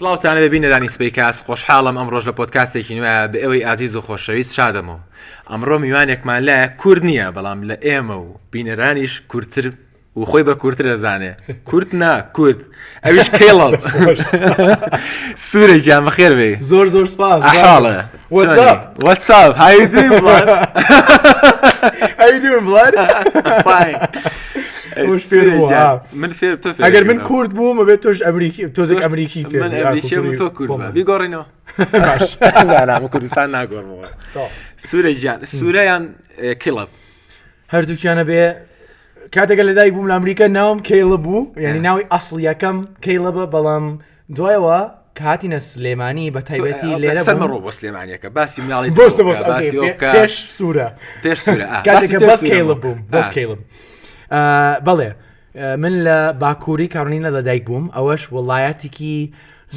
سڵاوتانە بە بینەرانی سپی کاس خۆشحاڵم ئەم ڕۆژ لە پۆتکاستێکی نوێە بە ئەوەی ئازیز و خۆشەویست شادەمەوە ئەمڕۆ میوانێکمان لایە کورد نییە بەڵام لە ئێمە و بینەرانیش کورتتر و خۆی بە کورتتر دەزانێ کورت نا کورد ئەوش کێڵڵ سوورە جامەخێر بێ زۆر زۆر سپاس حاڵە وەساب من فێر ئەگەر من کورد بووم بێت تۆش ئەمریکی تۆزێک ئەمریکی تۆ کورد بیگۆڕینەوە کوردستان ناگۆڕەوە سوورە گیان سوورەیان کڵب هەردووکیانە بێ کاتەکە لەدای بووم لە ئەمریکا ناوم کەیڵە بوو یعنی ناوی ئەسڵیەکەم کەیڵە بە بەڵام دوایەوە کە هاتینە سلێمانی بە تایبەتی لێرە سەرمە ڕۆ بۆ سلێمانیەکە باسی مناڵی پێش سوورە پێش سوورە بووم بەسکەیڵم بەڵێ من لە باکووری کارنینە لە دایک بووم ئەوەش وڵایەتێکی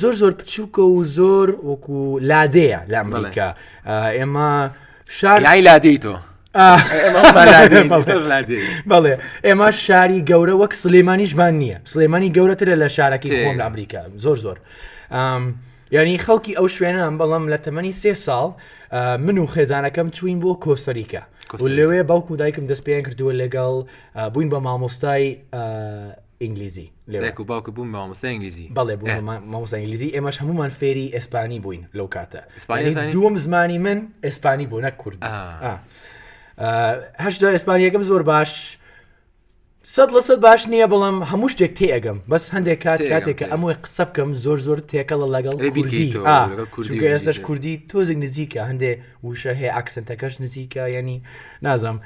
زۆر زۆر بچووکە و زۆر وەکو لادەیە لە ئەمریکا ئێمە شاری لادەی تۆ بەڵێ ئێمە شاری گەورە وەک سلێمانیشمان نییە سلێمانی گەورەترە لە شارەکەی خۆم لە ئەمریکا زۆر زۆر یعنی خەڵکی ئەو شوێنان بەڵام لە تەمەنی سێ ساڵ من و خێزانەکەم چوین بۆ کۆسەریکە لەوێ باوکو دایکم دەست پێیان کردووە لەگەڵ بووین بە مامۆستای ئینگلیزی لێک و باوکە بووم مامۆستا ئینگلیزی بەڵێ بوو مامۆستا ئینگلیزی ئێمەش هەمومان فێری ئەسپانی بووین لەو کاتە دووەم زمانی من ئەسپانی بوو نە کورد هەشدا ئەسپانیەکەم زۆر باش سەد لە سەد باش نییە بەڵام هەموو شتێک تێگەم بەس هەندێک کات کاتێکە ئەمووی قسە بکەم زۆر زۆر تێکەڵە لەگەڵ کوردی ئێستش کوردی تۆزێک نزیکە هەندێ وشە هەیە ئاکسنتەکەش نزیکە ینی نازم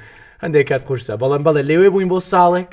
هەندێک کات قورسە بەڵام بەڵێ لەوێ بووین بۆ ساڵێک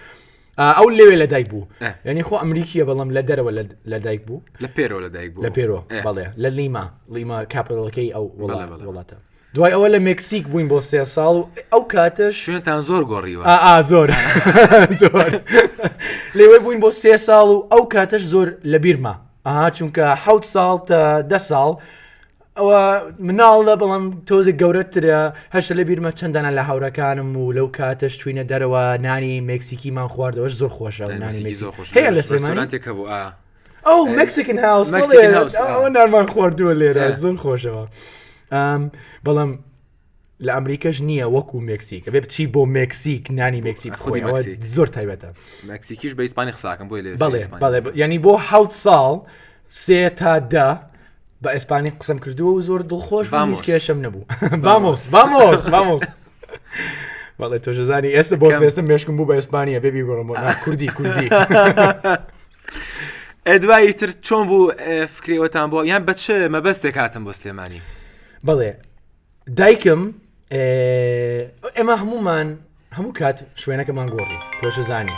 ئەو لەوێ لە دایک بوو ینی خۆ ئەمریکیە بەڵام لە دەرەوە لە دایک بوو لە پێرەوە لە دایک بوو لە پێرۆ بەڵێ لە لیما لیما کاپەڵەکەی ئەو وڵاتە دوای ئەوە لە مکسیک بووین بۆ سێ ساڵ و ئەو کاتە شوێنتان زۆر گۆڕیوە زۆر لێوە بووین بۆ سێ ساڵ و ئەو کاتەش زۆر لە بیرما ئاها چونکە حوت ساڵ تا دە ساڵ ئەوە مناڵە بەڵام تۆزە گەورەترە هەشە لە بیرمە چەندانە لە هاورەکانم و لەو کاتەش چوینە دەرەوە نانی مکسیکیمان خواردەوەش زۆر خۆشە نانی هەیە لە سلێمانێکە بوو ئەو مکسیکن هاوس نارمان خواردووە لێرە زۆر خۆشەوە بەڵام لە ئەمریکاش نییە وەکو مکسیک بێ بچی بۆ مکسیک نانی مکسیک خۆی زۆر تایبەتە مکسیکیش بە ئیسپانی قساکەم بۆ لێ بڵێ بەڵێ ینی بۆ حوت ساڵ سێ تا دە بە ئیسپانی قسم کردووە و زۆر دڵخۆش هیچ کێشم نەبوو بامۆس بامۆس بامۆس بەڵێ تۆژەزانی ئێستا بۆ ئێستا مشکم بوو بە ئیسپانیە بێبی گۆڕم کوردی کوردی ئەدوایی تر چۆن بوو فکرێوەتان بۆ یان بەچ مەبەستێک هاتم بۆ سلێمانی بڵێ دایکم ئێمە هەمومان هەموو کات شوێنەکەمان گۆڕی تۆش زانی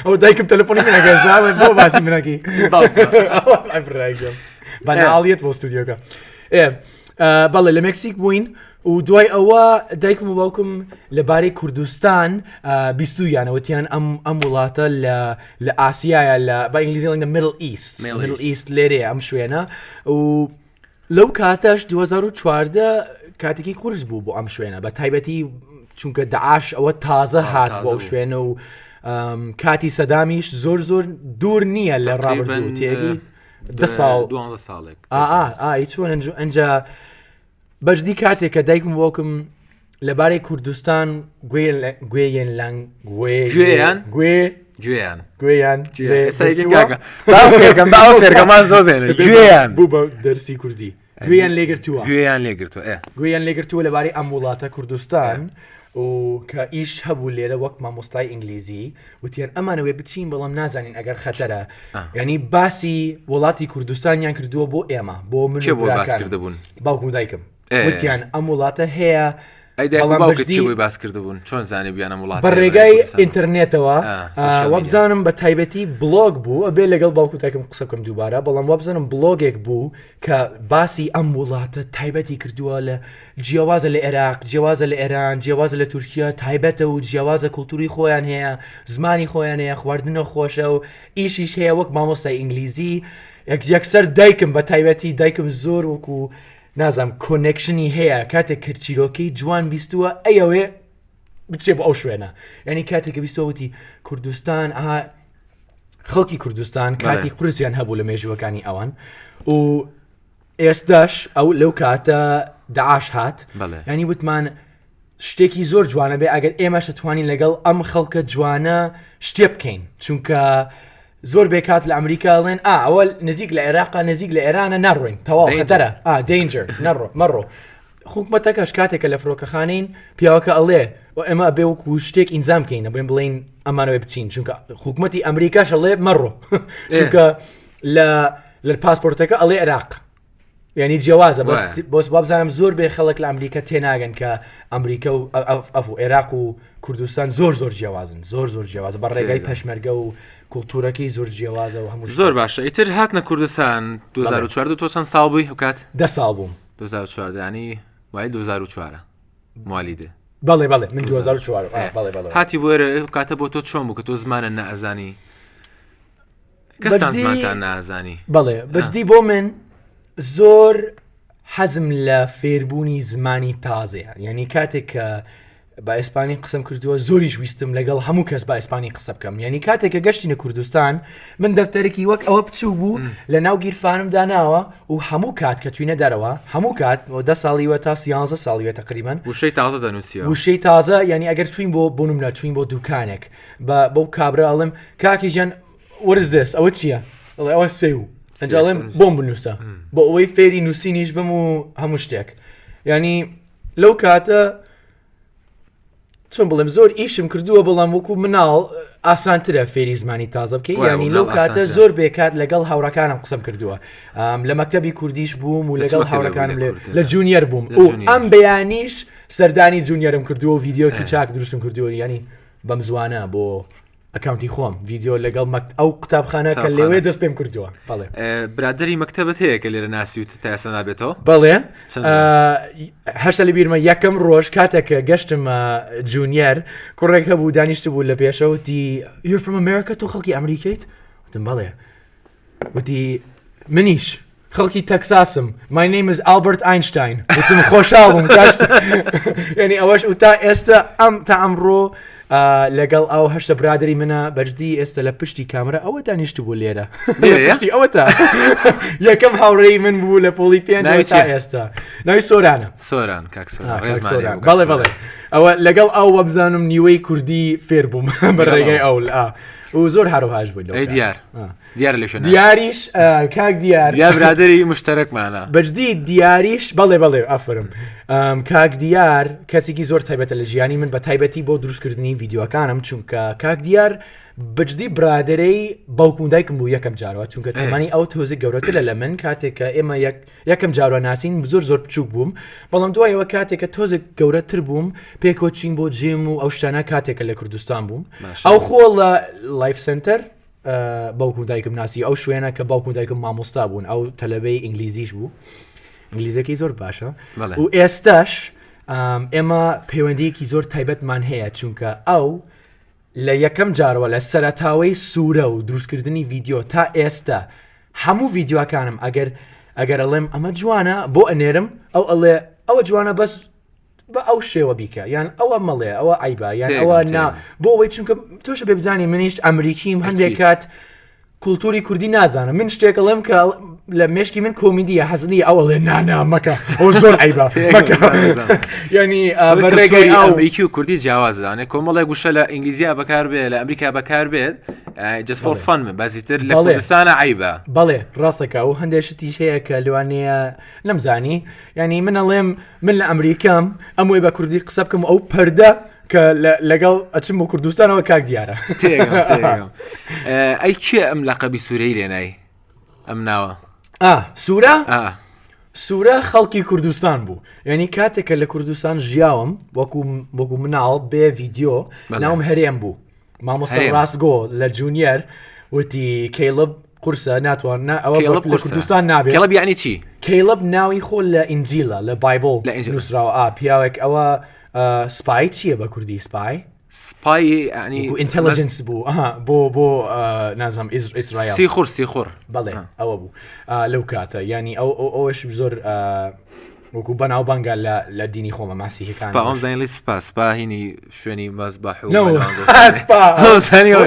ئەو دایکم تەلفۆنی منەگەزاڵێ بۆ باسی منەکی بەناڵیت بۆ ستودیۆکە بەڵێ لە مکسیک بووین و دوای ئەوە دایکم و باوکم لەبارەی کوردستان بیستویانە وتیان ئەم ئەم وڵاتە لە لە ئاسیایە لە بە ئینگلیزی لەنگە مل ئیست Middle مل East. ئیست لێرێ ئەم شوێنە و لەو کاتەش 2014 کاتێکی قورس بوو بۆ ئەم شوێنە بە تایبەتی چونکە داعاش ئەوە تازە هات تازە بۆ بوو. شوێنە و ئەم، کاتی سەدامیش زۆر زۆر دوور نییە لە ڕابردوو تێری ده ساڵ دوانزە ساڵێک ئا ئا ئا هیچ چۆن ئەنج- ئەنجا بەجدی کاتێک کە دایکم وەکم لەبارەی کوردستان گوێیان لەنگ گوێیان گوێ گوێیان گوێیان گوێیان بوو بە دەرسی کوردی گوێیان لێگرتووە گوێیان لێگرتووە گوێیان لێگرتووە لەبارەی ئەم وڵاتە کوردستان و کە ئیش هەبوو لێرە وەک مامۆستای ئینگلیزی وتیان ئەمانەوەێ بچین بەڵام نازانین ئەگەر خەتەرە ینی باسی وڵاتی کوردستانیان کردووە بۆ ئێمە بۆ من بۆ باسکردبوون باوکم دایکم وتیان ئەم وڵاتە هەیە ئەیداڵی باس کردبوون چۆن زانانی بیانە وڵات بە ڕێگای ئینتەرنێتەوە وابزانم بە تایبەتی بلۆگ بوو ئەبێ لەگەڵ باوکوتاکم قسەکەم دووبارە بەڵام وابزانم بلۆگێک بوو کە باسی ئەم وڵاتە تایبەتی کردووە لە جیاوازە لە ئێراق جیاوازە لە ئێران جیاوازە لە تورکیا تایبەتە و جیاوازە کولتوری خۆیان هەیە زمانی خۆیان هەیە خواردنە خۆشە و ئیشیش هەیە وەک مامۆستای ئینگلیزی یەکسەر دایکم بە تایبەتی دایکم زۆر وەکو نازم کۆنێکشنی هەیە کاتێک کرد چیرۆکی جوان بیستووە ئەیەوێ بچێ بۆ ئەو شوێنە ینی کاتێککە بیستەوتی کوردستان ئاها خەڵکی کوردستان کاتی قرسیان هەبوو لە مێژووەکانی ئەوان و ئێستاش ئەو لەو کاتە داعاش هات ینی وتمان شتێکی زۆر جوانە بێ ئەگەر ئێمەشە توانی لەگەڵ ئەم خەڵکە جوانە شتێ بکەین چونکە زۆر بێکات لە ئەمریکا ڵێن ئا ئەوە نزیک لە عێراقا نزیک لە ئێرانە نەڕۆین تەواو خەتەرە ئا دەینجر نەڕۆ مەڕۆ حکومەتەکەش کاتێک کە لە فرۆکەخانەین پیاوەکە ئەڵێ و ئەمە بێ وەکو شتێک ئینجام کەینە بێن بڵین ئەمانەوەی بچین چونکە حکوومەتتی ئەمریکاش ئەڵێ مەڕۆ چونکە لە لە پاسپۆرتەکە ئەڵێ عێراق ینی جیاوازە بۆس بابزانم زۆر بێ خەڵک لە ئەمریکا تێناگەن کە ئەمریکا و ئەف و عێراق و کوردستان زۆر زۆر جیاوازن زۆر زۆر جیاواز بە ڕێگای پەشمەرگە و کولتورەکەی زۆر جیاوازە و هەموو زۆر باشە ئیتر هاتنە کوردستان 2014 تۆ چەند ساڵ بووی هەکات دە ساڵ بووم 2014 ینی وای 2004 مالی دێ بەڵێ بەڵێ من 2004 بەڵێ بەڵێ هاتی بۆێرە کاتە بۆ تۆ چۆن بوو کە تۆ زمانە نەزانی کەستان زمانتان نازانی بەڵێ بەجدی بۆ من زۆر حەزم لە فێربوونی زمانی تازەیە یعنی کاتێک کە بە ئیسپانی قسەم کردووە زۆریش ویستم لەگەڵ هەموو کەس بە ئیسپانی قسە بکەم یعنی کاتێک کە گەشتینە کوردستان من دەفتەرێکی وەک ئەوە بچوو بوو لە ناو گیرفانم داناوە و هەموو کات کە توینە دەرەوە هەموو کات بۆ دە ساڵیوە تا سیانزە ساڵیوە تقریبان وشەی تازە دەنووسی وشەی تازە یعنی ئەگەر توین بۆ بوونم لە توین بۆ دوکانێک بە بەو کابرا ئەڵم کاکی ژیان وەرز دەست ئەوە چییە؟ ئەڵێ ئەوە سێ و ئەنجڵێم بۆم بنووسە بۆ ئەوەی فێری نووسینیش بم و هەموو شتێک ینی لەو کاتە چۆن بڵێم زۆر ئیشم کردووە بەڵام وەکو مناڵ ئاسانترە فێری زمانی تازە بکەی ینی لەو کاتە زۆر بێکات لەگەڵ هاوڕەکانم قسم کردووە لە مەکتتەبی کوردیش بووم و لەگەڵ هاوڕەکانم لە جونیەر بووم و ئەم بەیانیش سەردانی جونیەرم کردووە و ڤیددیوکی چاک دروستم کردووە ینی بەم زوانە بۆ ئەکاونتی خۆم ڤیددیو لەگەڵ مەکت ئەو قوتابخانە کە لەوێ دەست پێم کردووە بەڵێ برادری مەکتتەبەت هەیە کە لێرە ناسی و تاسە نابێتەوە بەڵێ هەشتا لە بیرمە یەکەم ڕۆژ کاتێکە گەشتم جونیەر کوڕێک هەبوو دانیشت بوو لە پێشەوتی یفرمەمەرەکە تۆ خەڵکی ئەمریکیت وتم بەڵێ وتی منیش خەڵکی تەکساسم مای نەیمز ئالبرت ئاینشتین وتم خۆشاڵم ینی ئەوەش و تا ئێستا ئەم تا ئەمڕۆ لەگەڵ ئەو هەشتە برادری منە بەجددی ئێستا لە پشتی کامرە ئەوە دانیشت بوو لێرە پشتی ئەوە تا یەکەم هاوڕێی من بوو لە پۆلی پێ ئێستا ناوی سۆرانە سۆران بەڵێ بەڵێ ئەوە لەگەڵ ئەو وەبزانم نیوەی کوردی فێر بووم بەڕێگەی ئەو و زۆر هەروهاش بووین لەو ئەی کاتە. دیار آه. دیار لە شوێن دیاریش آه، کاک دیار دیار برادری مشتەرەکمانە بەجدی دیاریش بەڵێ بەڵێ ئافرم ئەم، کاک دیار کەسێکی زۆر تایبەتە لە ژیانی من بە تایبەتی بۆ دروستکردنی یددیوەکانم چونکە کاک دیار بجددی برادرەی باوکوم دایکم بوو یەکەم جارەوە چونکە تەمەنی ئەو تۆزی گەورەترە لە من کاتێککە ئێمە یەک یەکەم جاروا ناسین زۆر زۆر بچوک بووم بەڵام دوایەوە کاتێکە تۆزێک گەورەتر بووم پێکۆچین بۆ جێم و ئەو شتانە کاتێکە لە کوردستان بووم ئەو خۆ لە لایف سنتەر باوکو دایکم ناسی ئەو شوێنە کە باوکو دایکم مامۆستا بوون ئەو تەلەبەی ئینگلیزیش بوو ئینگلیزەکەی زۆر باشە و ئێستاش ئێمە پەیوەندیەکی زۆر تایبەتمان هەیە چونکە ئەو لە یەکەم جارەوە لە سەرەتاوەی سورە و دروستکردنی ڤیدیۆ تا ئێستە هەموو ڤیددیوەکانم ئەگەر ئەگەر ئەڵێم ئەمە جوانە بۆ ئەنێرم ئەو ئەڵێ ئەوە جوانە بەس بە ئەو شێوە بیکە یان ئەوە مەڵێ ئەوە ئایبا یان ئەوە نا بۆ ئەوەی چونکە تۆش بێبزانانی منیش ئەمریکیم هەندێک کات کولتوری کوردی نازانم من شتێک ئەڵێم کە لە مشکی من کۆمیدیە حەزنی ئەوە لێ نانا مەکە ئەو زۆر ئەیبا ینی ڕێگەی ئەمریکی و کوردی جیاوازدانێ کۆمەڵێک گوشە لە ئینگلیزیا بەکاربێ لە ئەمریکا بەکاربێت جسفۆر فەن من بەزیتر لە کوردستانە عیبە بەڵێ ڕاستەکە و هەندێکشتیش هەیە کە لەوانەیە نەمزانی ینی من ئەڵێم من لە ئەمریکام ئەم وێ بە کوردی قسە بکەم ئەو پەردە کە لەگەڵ ئەچم بۆ کوردستانەوە کاک دیارە ئەی کێ ئەم لە قەبی سوورەی لێنای ئەم ناوە سوورە سوورە خەڵکی کوردستان بوو یعنی کاتێکە لە کوردستان ژیاوم وەکو وەکو مناڵ بێ ڤیددیو ناوم هەرێم بوو مامۆستا ڕاستگۆ لە جونیەر وتی کەیڵب قورسە ناتوان نا ئەوە کێڵب لە قورسە. کوردستان نابێت کێڵب یعنی چی کەیڵب ناوی خۆ لە ئینجیلا لە بایبل لە ئینجیل. نووسراوە ئا پیاوێک ئەوە آه، سپای چییە بە کوردی سپای سپای یعنی ئینتەلجنس بوو ئەها، بۆ بۆ آه، نازم ئیس- ئیسرائیل سیخور سیخور بەڵێ آه. ئەوە بوو آه، لەو کاتە ینی ئەو ئەو- ئەوش زۆر آه، وەکو بەناوبانگە لە لە دینی خۆمە ماسیهکان زانلی سپا سپا هینی شوێنی مەز بە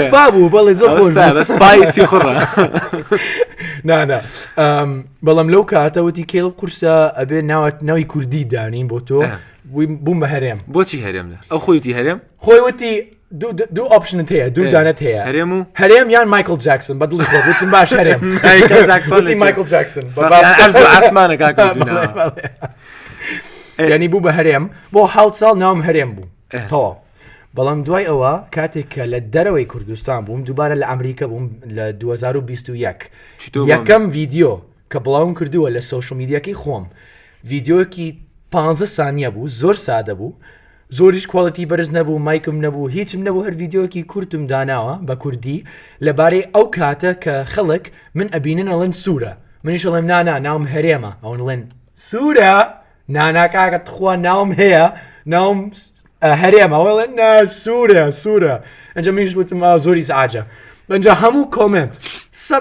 سپا بوو بەڵێ زۆر سپایسی خڕ نانا بەڵام لەو کاتەوەتی کێڵ قورسە ئەبێ ناوات ناوی کوردی دانین بۆ تۆ بووم بە هەرێم بۆچی هەرێم لە ئەو خۆیتی هەرێم خۆی وتی دوو ئۆپشنت هەیە دوو دانت هەیە هەرێم و هەرێم یان مایکل جاکسن بە دڵی خۆتم باش هەرێم مایکل جاکسن ئاسمانە ینی بوو بە هەرێم بۆ حوت ساڵ ناوم هەرێم بوو تەواو بەڵام دوای ئەوە کاتێک کە لە دەرەوەی کوردستان بووم دووبارە لە ئەمریکا بووم لە 2021 یەکەم ڤیددیو کە بڵاوم کردووە لە سوۆشمیدیەکەی خۆم ڤیددیوەکی 15 سانیە بوو زۆر سادە بوو زۆریش کوالیتی بەرز نەبوو مایکم نەبوو هیچم نەبوو هەر ڤیددیوەکی کورتم داناوە بە کوردی لەبارەی ئەو کاتە کە خەڵک من ئەبینن ئەڵێن سوورە منیش ئەڵێم نانا ناوم هەرێمە ئەوەن ڵێن سوورە ناناکاکە تخوا ناوم هەیە ناوم هەرێمە ئەوڵێن نا سوورە سوورە ئەنجە منیش وتم زۆری سعاجە ئەنجا هەموو کۆمنت سە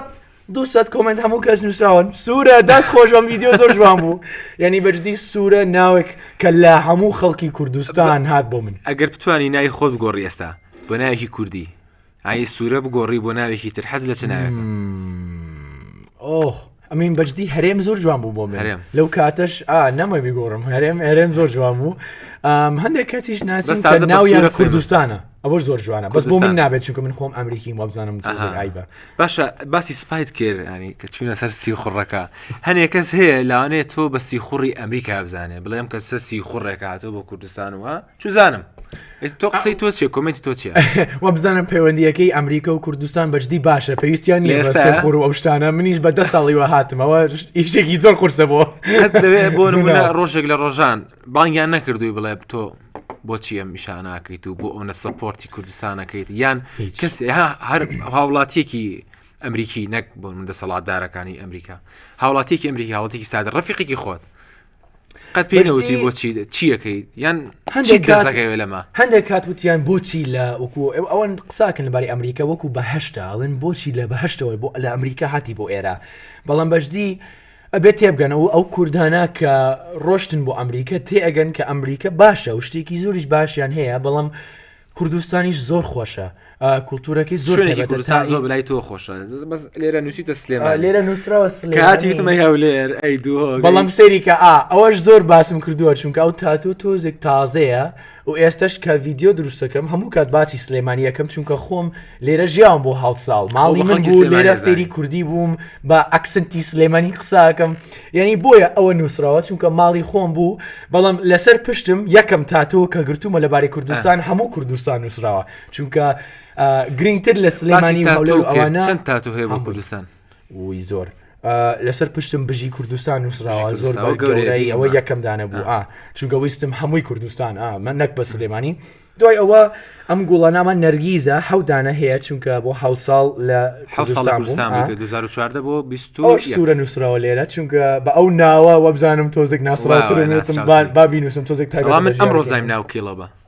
دووسەد کۆمنت هەموو کەس نووسراون سوورە دەست خۆش بەم ویددیو زۆر جوان بوو یعنی بەجددی سوورە ناوێک کە لە هەموو خەڵکی کوردستان هات بۆ من ئەگەر بتانی ناوی خۆت بگۆڕی ئێستا بۆ ناوێکی کوردی ئای سوورە بگۆڕی بۆ ناوێکی تر حەز لە چ ناوێکە ئۆخ ئەمین بەجددی هەرێم زۆر جوان بوو بۆ من هەرێم. لەو کاتەش ئا نەمە بیگۆڕم هەرێم هەرێم زۆر جوان بوو ئەم، هەندێک کەسیش ناسم بەس تازە کە بە ناویان سوورە فێرم. کوردستانە ئەوە زۆر جوانە بەس بۆ کوردستان. من نابێت چونکە من خۆم ئەمریکیم وابزانم تۆزێک ئایبە باشە باسی سپایت کرد ینی کە چوونە سەر سیخوڕەکە هەنێ کەس هەیە لاانێ تۆ بە سیخوڕی ئەمریکا بزانێ بڵێم کە سە سیخوڕێک هاتۆ بۆ کوردستان وە چزانم تۆ قسەی تۆ چێ کمنتی تۆ چێ وە بزانم پەیوەندیەکەی ئەمریکا و کوردستان بەجددی باشە پێویستیان نیەخور و ئەوشتانە منیش بە دە ساڵیوە هاتمەوە ئیشێکی زۆر قورسە بۆ بۆ ڕۆژێک لە ڕۆژان بانگیان نەکردووی بڵێ تۆ بۆچی ئەم ئیشا ناکەیت و بۆ ئەوە سەپۆرتی کوردستانەکەیت یان کەس هەر هاوڵاتیەکی ئەمریکی نەک بۆ من دەسەڵاتدارەکانی ئەمریکا هاوڵاتیەکی ئەمریکی هاوڵاتێکی سادە ڕفیقێکی خۆت قەت پێوتی بۆچی چیەکەی یان هەندێک کەسەکەوێ لەمە هەندێک کات وتیان بۆچی لە وەکو ئەوەن قساکن لەباری ئەمریکا وەکو بەهشتاڵن بۆچی لە بەهشتەوەی بۆ لە ئەمریکا هاتی بۆ ئێرە بەڵام بەشدی ئەبێ تێبگەنە و ئەو کوردانە کە ڕۆشتن بۆ ئەمریکا تێئەگەن کە ئەمریکا باشە و شتێکی زۆریش باشیان هەیە بەڵام کوردستانیش زۆر خۆشە کولتورەکەی زۆر شوێنێکی تایبەتە کوردستان تای- زۆر برای تۆ خۆشە بەس لێرە نووسیتە آه، سلێمان لێرە نووسراوە سلێمانی. کاتی وتمە هەولێر ئەی دووهۆ بەڵام سەیریکە ئا ئەوەش زۆر باسم کردووە چونکە ئەو تاتۆ تۆزێک تازەیە و ئێستەش کە ڤیدیۆ دروستەکەم هەموو کات باسی سلێمانی یەکەم چونکە خۆم لێرە ژیاوم بۆ هاوت ساڵ ماڵی من بوو لێرە فێری کوردی بووم بە ئەکسنتی سلێمانی قساکەم یعنی بۆیە ئەوە نووسراوە چونکە ماڵی خۆم بوو بەڵام لەسەر پشتم یەکەم تاتۆ کە گرتومە لەبارەی کوردستان هەموو کوردستان نووسراوە چونکە گرنگتر لە سلێمانی ئەوانە چەند تاتو هەیە بۆ کوردستان ووی زۆر لەسەر پشتم بژی کوردستان نووسراوە زۆر گەورەی ئەوە یەکەم دانە بوو ئا چونکە ویستم هەمووی کوردستان ئا من نەک بە سلێمانی دوای ئەوە ئەم گوڵە نامان نەرگیزە حەودانە هەیە چونکە بۆ حو ساڵ لە بۆ سوورە نووسراوە لێرە چونکە بە ئەو ناوە وەبزانم تۆزێک ناسڕاتر بابی نووسم تۆزێک تا من ئەم ڕۆزای ناوکیڵەوە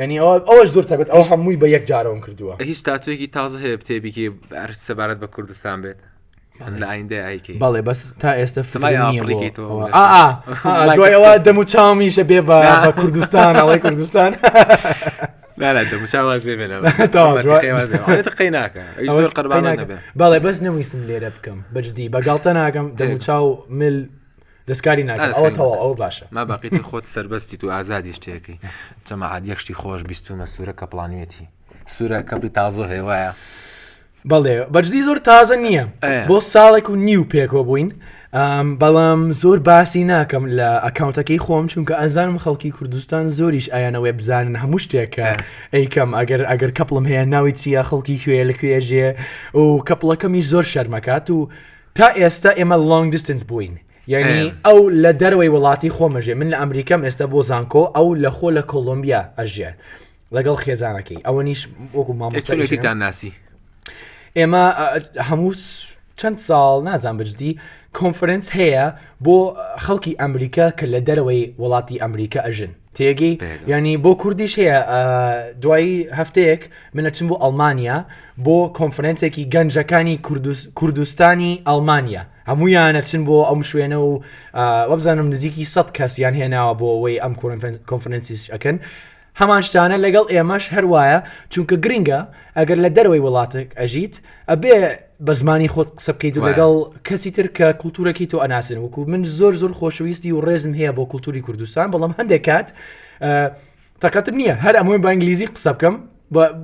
یعنی ئەوە ئەوەش زۆر تەبێت ئەو هەمووی بە یەک جارەوەم کردووە هیچ تاتوێکی تازە هەیە بتێبیکی ئەر سەبارەت بە کوردستان بێت لە ئایندە ئایکی بەڵێ بەس تا ئێستا فلای ئاپڕێکی تۆ دوایەوە دەم و چاومیشە بێ بە کوردستان ئەڵی کوردستان قەی ناکە زۆر قەربان بەڵێ بەس نەویستم لێرە بکەم بەجددی بەگاڵتە ناکەم دەم و چاو مل دەستکاری ناکەن ئەوە تەواو ئەو باشە ما باقیتی خۆت سربەستی تو ئازادی شتێکی چەمە عادیەکشتی خۆش بیستومە سوورە کە پلانوێتی سوورە کەپی تازۆ هێوایە بەڵێ بەجدی زۆر تازە نییە بۆ ساڵێک و نیو پێکەوە بووین بەڵام زۆر باسی ناکەم لە ئەکاونتەکەی خۆم چونکە ئەزانم خەڵکی کوردستان زۆریش ئایانەوەی بزانن هەموو شتێکە ئەیکەم ئەگەر ئەگەر کەپڵم هەیە ناوی چیە خەڵکی کوێ لە کوێژێ و کەپڵەکەمی زۆر شەرمەکات و تا ئێستا ئێمە لۆنگ دیستنس بووین یعنی ئەو لە دەرەوەی وڵاتی خۆمەژێ من لە ئەمریکام ئێستا بۆ زانکۆ ئەو لە خۆ لە کۆلمبیا ئەژێ لەگەڵ خێزانەکەی ئەوە نیش وەکو مامۆستایتان ناسی ئێمە هەموو چەند ساڵ نازان بجدی کۆنفرنس هەیە بۆ خەڵکی ئەمریکا کە لە دەرەوەی وڵاتی ئەمریکا ئەژن تێگەی ینی بۆ کوردیش هەیە دوایی هەفتەیەک منەچم بۆ ئەلمانیا بۆ کۆنفرەنسێکی گەنجەکانی کوردستانی ئەلمانیا هەموو یانەچن بۆ ئەم شوێنە و وەبزانم نزیکی سە کەس یان هێناوە بۆ ئەوەی ئەم کۆنفرەنسیش ئەەکەن هەمان شتانە لەگەڵ ئێمەش هەروایە چونکە گرنگە ئەگەر لە دەرەوەی وڵاتێک ئەژیت ئەبێ بە زمانی خۆت قسە بکەیت و لەگەڵ کەسی تر کە کولتورەکەی تۆ ئەناسن وکو من زۆر زۆر خۆشەویستی و ڕێزم هەیە بۆ کولتوری کوردستان بەڵام هەندێک کات تەقەتم نییە هەر ئەمۆی بە ئینگلیزی قسە بکەم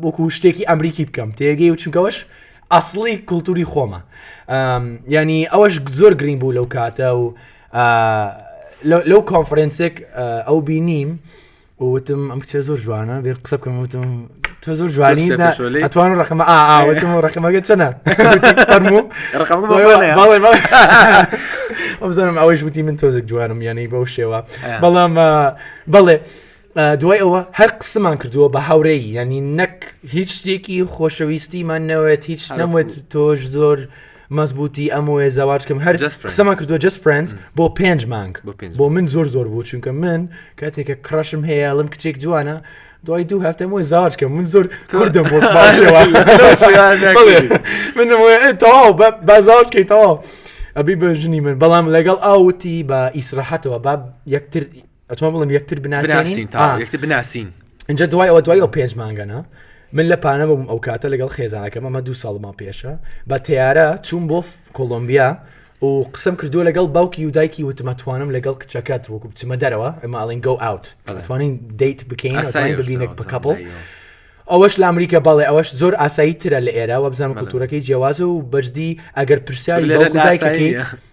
بۆکو شتێکی ئەمریکی بکەم تێگەی و چونکەوەش ئەاصلی کولتوری خۆمە ینی ئەوەش زۆر گرنگ بوو لەو کاتە و لەو کۆنفرەنسێک ئەو بینیم وتم ئەم کچە زۆر جوانە بێ قسە بکەم وتم تۆ زۆر جوانی دا پێشتە پێشۆلەی؟ ئەتوان ڕقمە ئاوتم و ڕقمەگە چەنە فەرموو ڕقەکە بۆ بڵێ. باڵێ ئەمزانم ئەوەیش وتی من تۆزێک جوانم یانەی بەو شێوە آه. بەڵام آه، بەڵێ آه، دوای ئەوە هەر قسمان کردووە بە هاورەی ینی نەک هیچ شتێکی خۆشەویستیمان نەوێت هیچ هەر نەموێت تۆش زۆر مەزبوتی ئەم وێ زەواجکەم هەر Just Friends. قسەمان کردووە جست فرنس بۆ پێنج مانگ بۆ پێنج بۆ من زۆر زۆر بوو چونکە من کاتێکە کڕشم هەیە ئەڵم کچێک جوانە دوای دوو هەفتەم وێ زەواجکەم من زۆر کوردم بۆ باشەوە منم وێ، ئێ، تەواو بە بازاوکەی تەواو ئەبی بە ژنی من بەڵام لەگەڵ ئاوتی بە ئیسراحەتەوە با یەکتر ئەتۆ بڵم یەکتر بناسین یەکتر بناسین اینجا دوای ئەوە دوای ئەو پێنج مانگەنە من لە پانە بووم ئەو کاتە لەگەڵ خێزانەکەم ئەمە دو ساڵمان پێشە بە تیارە چوون بۆ کۆلمبیا و قسم کردووە لەگەڵ باوکی و دایکی وتمەتوانم لەگەڵ کچەکەت وەکو بچمە دەرەوە ئەماڵین گۆ ئاوت توانین دیت بکەین ببینە بکەپڵ ئەوەش لە ئەمریکا باڵێ ئەوەش زۆر ئاسایی ترە لە ئێرا وە بزانم کلتورەکەی جیاوازە و بەجدی ئەگەر پرسیاری لە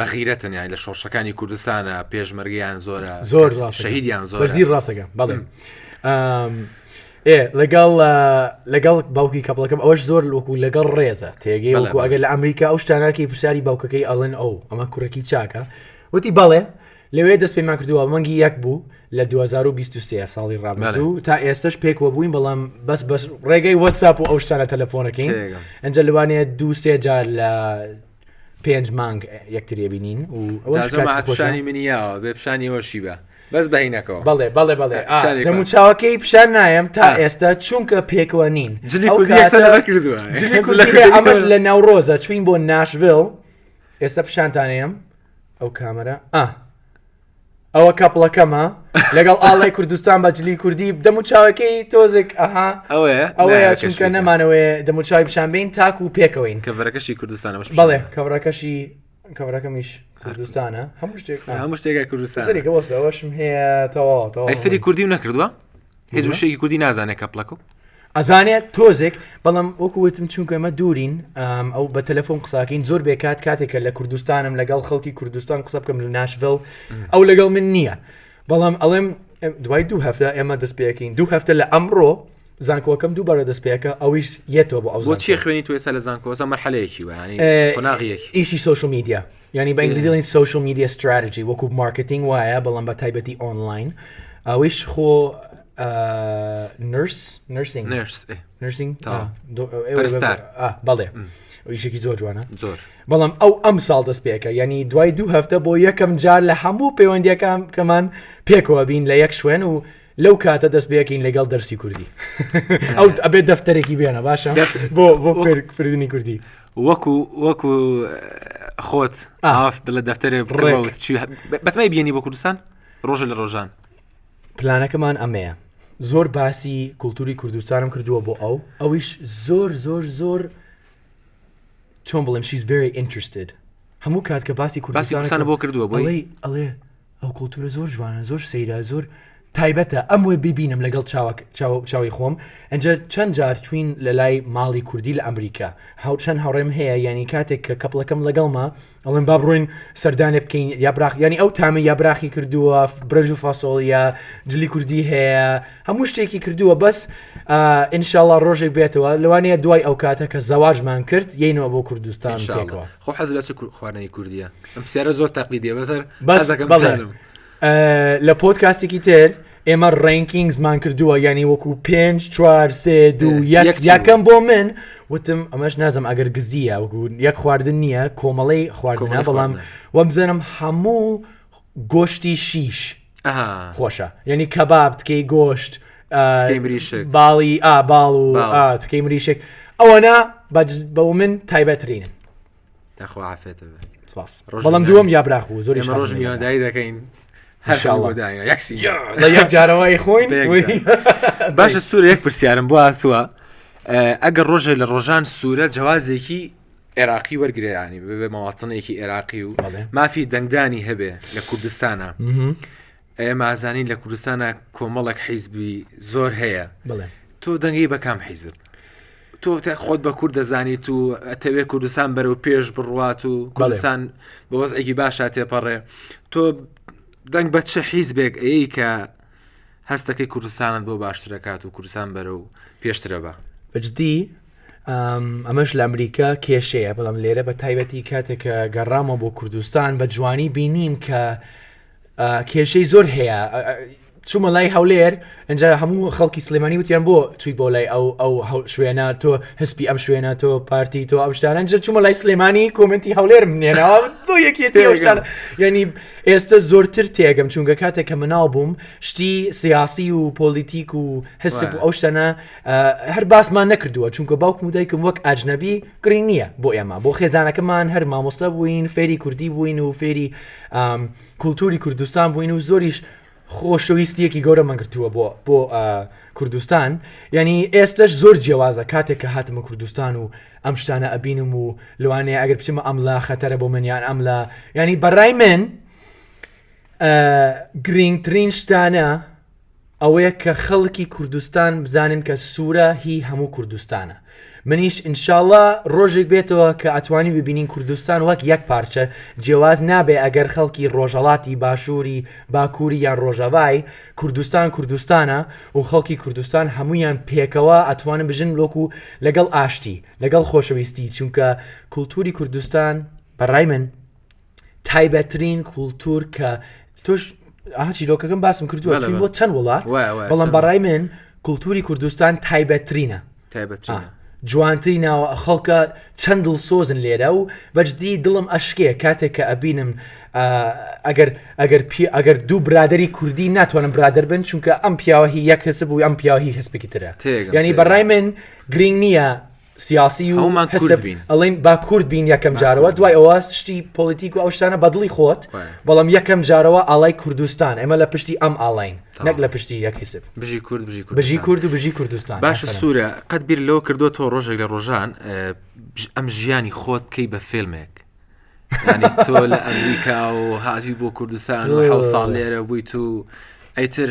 بەغیرەتن یان لە شۆڕشەکانی کوردستانە پێشمەرگیان زۆرە زۆر شەهیدیان زۆر بەردی ڕاستەکە بەڵێ ئێ لەگەڵ لەگەڵ باوکی کەپڵەکەم ئەوەش زۆر لوکو لەگەڵ ڕێزە تێگەی وەکو ئەگەر لە ئەمریکا ئەو شتاناکی پرسیاری باوکەکەی ئەڵێن ئەو ئەمە کوڕێکی چاکە وتی بەڵێ لەوێ دەست پێمان کردووە مەنگی یەک بوو لە 2023 ساڵی ڕابردوو تا ئێستش پێکوە بووین بەڵام بەس بەس ڕێگەی وەتساپ و ئەو شتانە تەلەفۆنەکەین ئەنجە لەوانەیە دووسێ جار لە پێنج مانگ یەکترێ بینین و ئەوشانی منی یاوە بێ پیشانی ئەوەشی بە بەس بەینەکەەوە بەڵێ بەڵێ بەڵێ دەمو چاوەکەی پیشان نایم تا ئێستا چونکە پێکەوە نین ئەمەش لە ناوڕۆزە چوین بۆ ناشڤل ئێستا پیشانتانەیەم ئەو کامەرە ئا ئەوە کەپڵەکەمە لەگەڵ ئاڵای کوردستان بە جلی کوردی دەم و چاوەکەی تۆزێک ئەها ئەوەیە ئەوەیە چونکە نەمانەوەێ دەموچوی پیشانبین تاکو و پێکەوەین کەڤەرەکەشی کوردستان بڵێ کەڤەکەشی کەڤەکەمیش کوردستانە هەموو شتێک هەموو شتێکە کوردستانەوەشم هەیە تەواوەوە فری کوردی و نەکردووە هیچ وشەیەکی کوردی نازانێت کە پڵەکە ئەزانێت تۆزێک بەڵام وەکوتم چونکە ئەمە دوورین ئەو بە تەلەفۆن قساکەین زۆر بێکات کاتێکە لە کوردستانم لەگەڵ خەڵکی کوردستان قسە بکەم لە ناشڤل ئەو لەگەڵ من نییە بەڵام ئەڵێم دوای دوو هەفتە ئێمە دەست پێەکەین دوو هەفتە لە ئەمڕۆ زانکۆکەم دووبارە دەست پێەکە ئەویش یەتەوە بۆ ئەو چی خوێنی تو ێسا لە زانکۆسە مەحلەیەکی وانی قۆناغیەک ئیشی سوۆشمیدیا یانی بە ئینگلیزی دەڵێن سۆشیال میدیا ستراتیجی وەکو مارکتینگ وایە بەڵام بە تایبەتی ئۆنلاین ئەوەیش خۆ نرس نرسینگ نرس ئێ. نرسینگ تا. آه، دو- آه، ئێوە پەرستار. بە- آه، بەڵێ ئیشێکی زۆر جوانە زۆر بەڵام ئەو ئەم ساڵ دەست پێکە ینی دوای دوو هەفتە بۆ یەکەم جار لە هەموو پەیوەندیەکان کەمان پێکەوە بین لە یەک شوێن و لەو کاتە دەست بەکەین لەگەڵ دەرسی کوردی ئەو ئەبێت دەفتەرێکی بێنە باشە دەفت- بۆ بۆ فێرکردنی کوردی وەکو وەکو خۆت ئاف بڵە دەفتەرێ بڕێوت بەتمای بینی بۆ کوردستان ڕۆژ لە ڕۆژان پلانەکەمان ئەمەیە زۆر باسی کولتوری کوردستانم کردووە بۆ ئەو ئەویش زۆر زۆر زۆر چۆن بڵێم شیز very interested هەموو کات کە باسی کوردستانە بۆ کردووە بۆی ئەڵێ ئەو کۆلتورە زۆر جوانە زۆر سەیرە زۆر تایبەتە ئەم وێ ببینم لەگەڵ چاوک چاوی خۆم ئەجا چەند جار چوین لە لای ماڵی کوردی لە ئەمریکا هاوچەند هاوڕێم هەیە ینی کاتێک کە کەپڵەکەم لەگەڵمە ئەڵێن با بڕۆین سەردانێ بکەین یا براخ ینی ئەو تامە یا براخی کردووە برەژ و فاسۆڵە جلی کوردی هەیە هەموو شتێکی کردووە بەس ئینشاءله ڕۆژێک بێتەوە لەوانەیە دوای ئەو کاتە کە زەواجمان کرد یینەوە بۆ کوردستان خۆ حەز لە چ کور- خواردنی کوردیە ئەم پرسیارە زۆر تەقلیدیە بەس هەر بەس حەزەکەم بەڵێ. بزانم. ئە، لە پۆدکاستێکی تر ئێمە ڕێنکینگزمان کردووە یعنی وەکو پێنج چوار سێ دوو اه، یەک یەک چی یەکەم بۆ من وتم ئەمەش نازم ئەگەر گزیە وەکو یەک خواردن نییە کۆمەڵی خواردنە کۆمەڵەی بەڵام خواردنە. وەم بزنم هەموو گۆشتی شیش خۆشە یعنی کەباب تکەی گۆشت باڵی ئا باڵ و تکەی مریشک ئەوەنا بە من تایبەترینن بەڵام دووەم یا براخ و زۆری ڕۆژ میوانداری دەکەین جارەوەی خۆین باشە سوور یەک پرسیارم بۆ هاتووە ئەگەر ڕۆژێ لە ڕۆژان سوورە جوازێکی عێراقی وەرگێرانی ببێ مەواتنێکی عێراقی و مافی دەنگدانی هەبێ لە کوردستانە ئەێ مازانی لە کوردستانە کۆمەڵک حیزبی زۆر هەیە تۆ دەنگی بەکام حیزب تۆ خۆت بە کورد دەزانیت و ئەتەوێ کوردستان بەرەو پێش بڕوات و کوردستان بە وەزعێکی باشە تێپەڕێ تۆ دەنگ بە چه حیزبێک ئەی کە هەست دەکەی کوردستانت بۆ باشترەکات و کوردستان بەرە و پێشترە بە بەجددی ئەمەش لە ئەمریکا کێشەیە بەڵام لێرە بە تایبەتی کاتێکە گەڕامە بۆ کوردستان بە جوانی بینیم کە کێشەی زۆر هەیە چوومە لای هەولێر ئەجا هەموو خەڵکی سلێمانی وتیان بۆ توی بۆ لای ئەو ئەو شوێنە تۆ هەسپی ئەم شوێنە تۆ پارتی تۆ ئەم شتانەجر چوومە لای سلێمانی کۆمنتی هەولێر منێنەوە تۆ یەکێتی ینی ئێستە زۆرتر تێگەم چونکە کاتێک کە مناڵ بووم شتی سیاسی و پۆلیتیک و حسب و ئەو شتەنە هەر باسمان نەکردووە چونکە باوکم و دایکم وەک ئاجنەبی گرنگ نییە بۆ ئێمە بۆ خێزانەکەمان هەر مامۆستا بووین فێری کوردی بووین و فێری کولتوری کوردستان بووین و زۆریش خۆشەویستیەکی گەورەمان گرتووە بۆ بۆ کوردستان یعنی ئێستش زۆر جیێوازە کاتێک کە هاتمە کوردستان و ئەم شتانە ئەبینم و لەوانێ ئەگەر بچمە ئەملا خەتەرە بۆ منیان ئەملا ینی بەڕای من گرنگترین شتانە ئەوەیە کە خەڵکی کوردستان بزانن کە سوورە هی هەموو کوردستانە منیش انشاللە ڕۆژێک بێتەوە کە ئەتوانین ببینین کوردستان وەک یەک پارچە جێواز نابێ ئەگەر خەڵکی ڕۆژەڵاتی باشووری باکووری یان ڕۆژەڤای کوردستان کوردستانە و خەڵکی کوردستان هەموویان پێکەوە ئەتوانن بژن وەکو لەگەڵ ئاشتی لەگەڵ خۆشەویستی چونکە کولتووری کوردستان بە ڕای من تایبەترین کولتور کە تۆش چیرۆکەکەم باسم کردووە بۆ چەند وڵات بەڵام بەڕای من کولتوری کوردستان تایبەترینە تایبەترینە جوانتری ناوە خەڵکە چەند دڵ سۆزن لێرە و بەجددی دڵم ئەشکێ کاتێک کە ئەبینم ئەگەر ئەگەر پێ ئەگەر دوو برادری کوردی ناتوانم برادر بن چونکە ئەم پیاوەهی یەک هەسب و ئەم پیاوەهی هەسپێکی ترە ینی بەڕای من گرنگ نییە سیاسی و هەومان حسب بین ئەڵین با کورد بین یەکەم جارەوە دوای ئەوە شتی پۆلیتیک و ئەو شتانە بەدڵی خۆت بەڵام یەکەم جارەوە ئاڵای کوردستان ئێمە لە پشتی ئەم ئاڵین نەک لە پشتی یەکیسب بژی کورد بژی بژی کورد و بژی کوردستان باش سوورە قەت بیر لەوە کردو تۆ ڕۆژێک لە ڕۆژان ئەم ژیانی خۆت کەی بە فێلمێک تۆ لە ئەمریکا و هاتی بۆ کوردستان و حو ساڵ لێرە بوویت و ئەیتر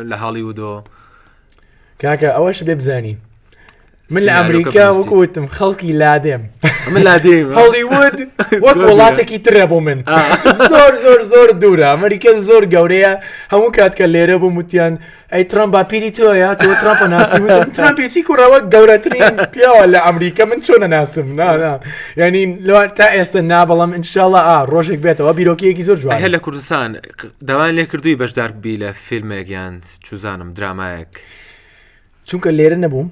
لە هالیوودۆ کاکە ئەوەش بێ بزانی من لە ئەمریکا وەکوتم خەڵکی لادێم من لادێم هەڵیوود وەک وڵاتێکی ترە بۆ من زۆر زۆر زۆر دوورە ئەمریکا زۆر گەورەیە هەموو کات کە لێرە بوو وتیان ئەی ترام باپیری تۆە تۆ تراپە ناسیچی کوڕەوە گەورەترین پیاوە لە ئەمریکا من چۆنە ناسم نانا ینی لەوان تا ئێستا نابڵم انشاءله ئا ڕۆژێک بێتەوە بیرۆکیەکی زۆر جوان هە لە کوردستان داوایان لێکردووی بەشدار ببی لە فیلمێک یان چوزانم درامایەک چونکە لێرە نەبووم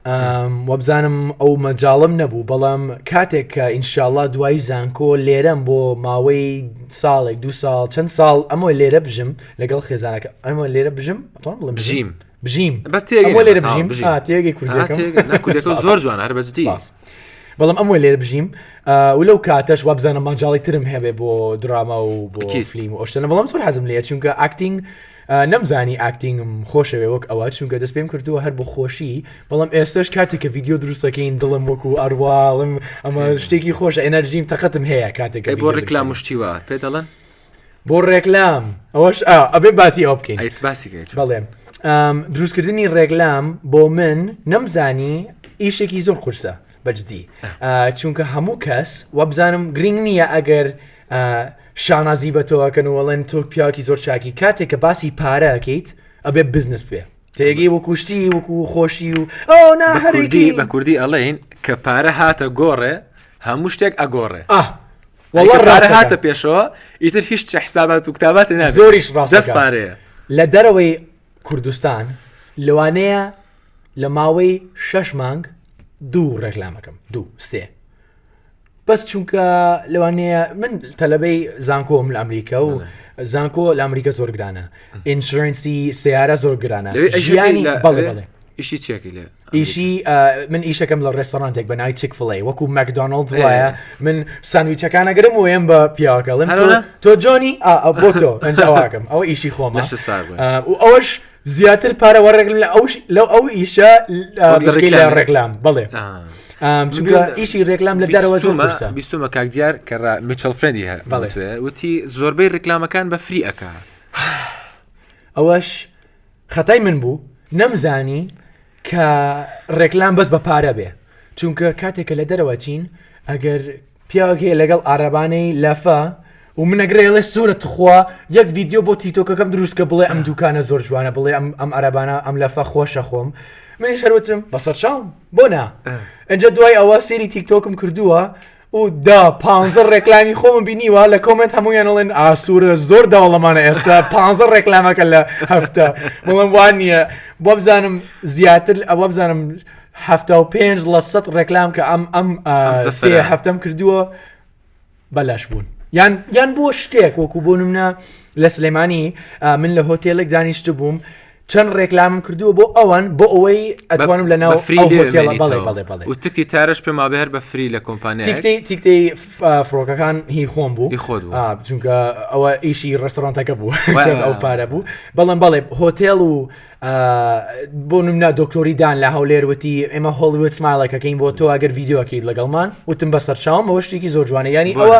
ئەم، وەبزانم ئەو مەجاڵم نەبوو بەڵام کاتێک کە ئینشاءاللە دوای زانکۆ لێرەم بۆ ماوەی ساڵێک دو ساڵ چەند ساڵ ئەمە لێرە بژم لەگەڵ خێزانەکە ئەمە لێرە بژم ئەتوانم بڵێم بژیم. بژیم بژیم بەس تێگەی لێرە بژیم تێگەی کوردەکە زۆر جوان هەر بەزتی بەڵام ئەمە لێرە بژیم و لەو کاتەش وابزانە ماجاڵی ترم هەبێ بۆ دراما و بۆ فلیم و ئەشتەنە بەڵام زۆر حەزم لێ چونکە ئاکتینگ نەمزانی ئاکتینگم خۆشەوێ وەک ئەوە چونکە دەست پێم کردووە هەر بۆ خۆشی بەڵام ئێستش کاتێک کە یددیو دروستەکەین دڵم وەکو ئەرواڵم ئەمە شتێکی خۆش ئەنەرژیم تەقەتم هەیە کاتێک بۆ ڕیکلا مشتیوە پێ دەڵێن بۆ ڕێکلام ئەوەش ئەبێ باسی ئەو بکەین بەڵێم دروستکردنی ڕێکلام بۆ من نەمزانی ئیشێکی زۆر قورسە بەجددی چونکە هەموو کەس وەبزانم گرنگ نییە ئەگەر شانازی بە تۆکەن و وەڵێن تۆک پیاکی زۆر چاکی کاتێک کە باسی پارەکەیت ئەبێ بزنس بێ تێگەی وەکوشتی وەکو خۆشی و ئەو نا هەرگی بە کوردی ئەڵێن کە پارە هاتە گۆڕێ هەموو شتێک ئەگۆڕێ وەڵا ڕارە هاتە پێشەوە ئیتر هیچ چە حسابات و کتابات نا زۆریش ڕاست پارەیە لە دەرەوەی کوردستان لەوانەیە لە ماوەی شەش مانگ دوو ڕێکلامەکەم دوو سێ بەس چونکە لەوانەیە من تەلەبەی زانکۆم لە ئەمریکا و زانکۆ لە ئەمریکا زۆر گرانە ئینشرنسی سیارە زۆر گرانە ژیانی بەڵێ بەڵێ ئیشی چێکی لێ ئیشی من ئیشەکەم لە ڕێستۆرانتێک بە ناوی چیک فڵێ وەکو مەکدۆنلد وایە من سانویچەکانە گرم وەیەم بە پیاوەکەڵم تۆ جۆنی بۆ تۆ ئەنجاواکەم ئەوە ئیشی خۆمە و ئەوش زیاتر پارە وەڕێگل لە ئەوش لەو ئەو ئیشە لە ڕێکلام بڵێ ئیشی ڕێکلام لە دەرەوە بیستمە کاک دیار کە میچل فرێندی هەر بەڵێ وتی زۆربەی ڕێکلامەکان بە فری ئەک ئەوەش خەتای من بوو نەمزانی کە ڕێکلام بەس بە پارە بێ چونکە کاتێکە لە دەرەوە چین ئەگەر پیاوەک هەیە لەگەڵ ئارەبانەی لەفە و منەگرێڵێ سوورە تخوا یەک ڤیددیو بۆ تیتۆکەکەم دروستکە بڵێ ئەم دوکانە زۆر جوانە بڵێ ئەم ئەم عربانە ئەم لەفە خۆشە خۆم منی شەروتم بەسەر چاوم بۆ نا ئەجا دوای ئەوە سێری تیکتۆکم کردووە و دا پانزە ڕێکلامی خۆم بینیوە لە کۆمنت هەموویان ئەڵێن ئاسوورە زۆر داوڵەمانە ئێستا پانزە ڕێکلامەکە لە هەفتە بڵم وان نییە بۆ بزانم زیاتر ئەوە بزانم هەفتا و پێنج لە سەد ڕێکلام کە ئەم ئەم سێ هەفتم کردووە بەلاش بوون یان یان بۆ شتێک وەکو بۆ منە لە سلێمانی من لە هۆتێلێک دانیشت بووم چەند ڕێکلامم کردووە بۆ ئەوان بۆ ئەوەی ئەتوانم لە ناو تکتی تارش پێ مابێ هەر بە فری لە کۆمپانیا تیکتی فڕۆکەکان هی خۆم بوو خۆت چونکە ئەوە ئیشی ڕستۆرانتەکە بوو ئەو پارە بوو بەڵام بەڵێ هۆتێل و بۆ نمنا دکتۆریدان لە هەولێر وتی ئێمە هۆڵوت سمالەکەکەین بۆ تۆ ئەگەر یددیوەکەیت لەگەڵمان وتم بە سەرچاوم بەەوە شتێکی زۆر جوانە ینی ئەوە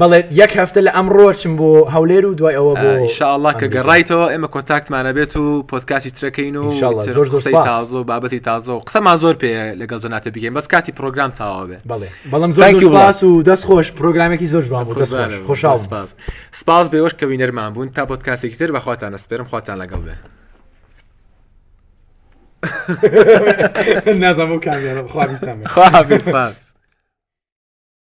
بەڵێ یەک هەفتە لە ئەم ڕۆچم بۆ هەولێر و دوای ئەوە بۆ ئیشاءله کە گەڕایتەوە ئێمە کۆنتاکتمانە بێت و پۆتکاسی ترەکەین و زۆر زۆر تازە و بابەتی تازە و قسەمان زۆر پێ لەگەڵ جەناتە بگەین بەس کاتی پرۆگرام تاوا بێ بڵێ بەڵم زۆر باس و دەست خۆش پرۆگرامێکی زۆر جوان بۆ دەست خۆشاڵ سپاس سپاس بێوەش کە وینەرمان بوون تا پۆتکاسێکی تر بەخواتان نەسپێرم خواتان لەگەڵ بێ نازم بو كاميرا خواهش خواهش